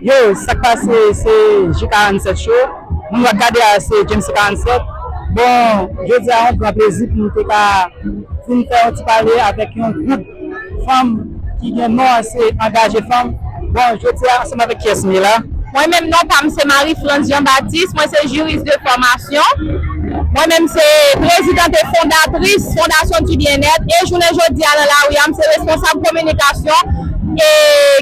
Yo sak pase se J 47 show moun wap gade a se James 47 bon jodia yon gran plezi pou nou te ka vin fè yon ti pale avèk yon gwoup fanm ki gen non an se angaje fanm bon jodia ansanm avèk kiyès nou ye la. Mwen menm non pam se Marie France Jean Baptiste mwen se juriste de formation mwen menm se presidente et fondatrice fondation du bien être et jounen jodia nan lari a m se responsable communication e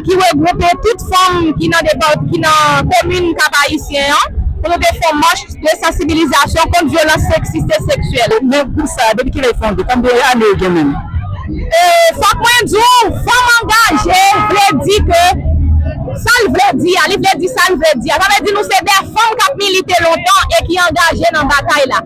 ki regwoupe tout fanm ki nan depart ki nan komin Kap Ayisyen an pou nou te fon mach de sansibilizasyon kont vyolans seksis e seksyèl. Men gwoup sa a depi kilè li fonde? Konbyen ane yo gen menm? E fòk mwen di w fanm angaje vle di ke sa l vle di a, li vle di sa l vle di a. Sa vle di nou se de fanm k ap milite lontan e ki angaje nan batay la.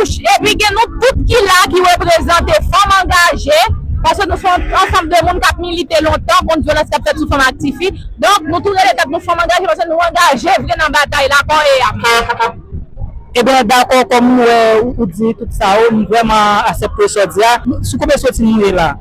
Epi gen nou tout ki la ki reprezante fanm angaje, paske nou se yon ansanm de moun k ap milite lontan kont vyolans k ap fèt sou fanm ak tifi. Donk, nou tou rele tèt nou fanm angaje paske nou angaje vre nan batay la kò e am. Ebyen dakò kòm ou wè ou di tout sa ou m vrèman asepte sa w di a. Sou konbyen soti nou ye la?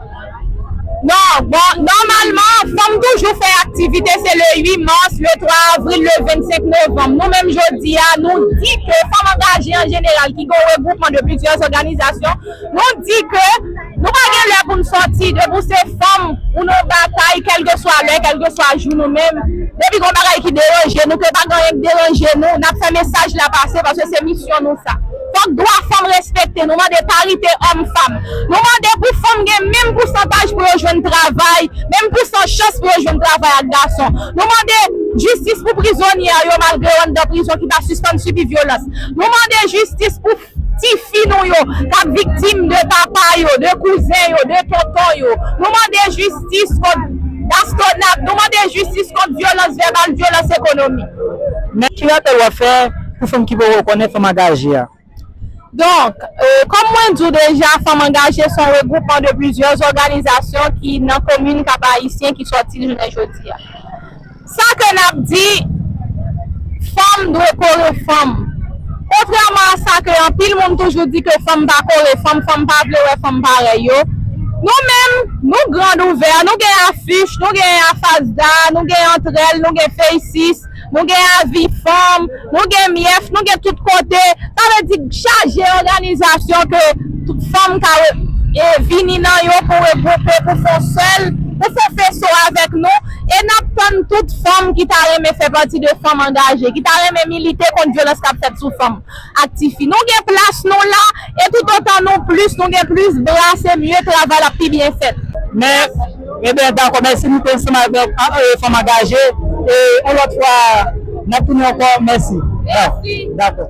Non, bon, nòmalman, fanm toujou fè aktivite, se le 8 mas, le 3 avril, le 25 novanm. Nou menm jodi a, nou di ke fanm angaje an jeneral ki gen yon regwoupman de plizyè òganizasyon, nou di ke nou pa gen lè pou n sòti depi w se fanm ou nan batay kèlkeswa lè, kèlkeswa jou nou menm depi gen yon bagay ki deranje nou, ke pa gen anyen k deranje nou, n ap fè mesaj la pase paske se misyon nou sa. Fòk dwa fanm respekte, nou mande parite òm fanm. Nou mande pou fanm gen menm pousantaj pou yo jwenn travay, menm pousan chans pou yo jwenn travay ak gason. Nou mande Jistis pou prizonye a yo malgre yo anndan prizon ki pa sispann sibi vyolans. Nou mande jistis pou ti fi nou yo kap viktim de papa yo, de kouzen yo, de tonton yo. Nou mande jistis kont bastonad, nou mande jistis kont vyolans vèbal, vyolans ekonomik. Mèt Kiratel wap fè Pou fanm ki poko konnen Fanm Angaje a. Donk, kòm mwen di w deja, Fanm Angaje se yon regwoupman de plizyè zòganizasyon ki nan komin Kap Ayisyen ki sòti l jounen jodi a. Sa ke n ap di, Fanm dwe kore fanm. Kontrèman a sa ke anpil moun toujou di ke fanm pa kore fanm, fanm pa vle wè fanm parèy yo, nou menm, nou grand ouvè, nou gen afich, nou gen afasda, nou gen antrèl, nou gen feysis, Nou gen avi fanm, nou gen myèf, nou gen tout kote. Sa vle di chaje òganizasyon ke fanm ka vini nan yo pou regwoupe, pou fon sèl, pou fon feso avèk nou. E n ap tann tout fanm ki ta renmen fè pati de fanm angaje, ki ta renmen milite kont vyolans k ap fèt sou fanm. ak tifi nou gen plas nou la e tout otan nou plis nou gen plis bra se mye travay la pi byen fèt. Men e ben dakò mèsi nou te ansanm avèk fanm angaje e on lòt fwa nap tounen ankò mèsi dakò.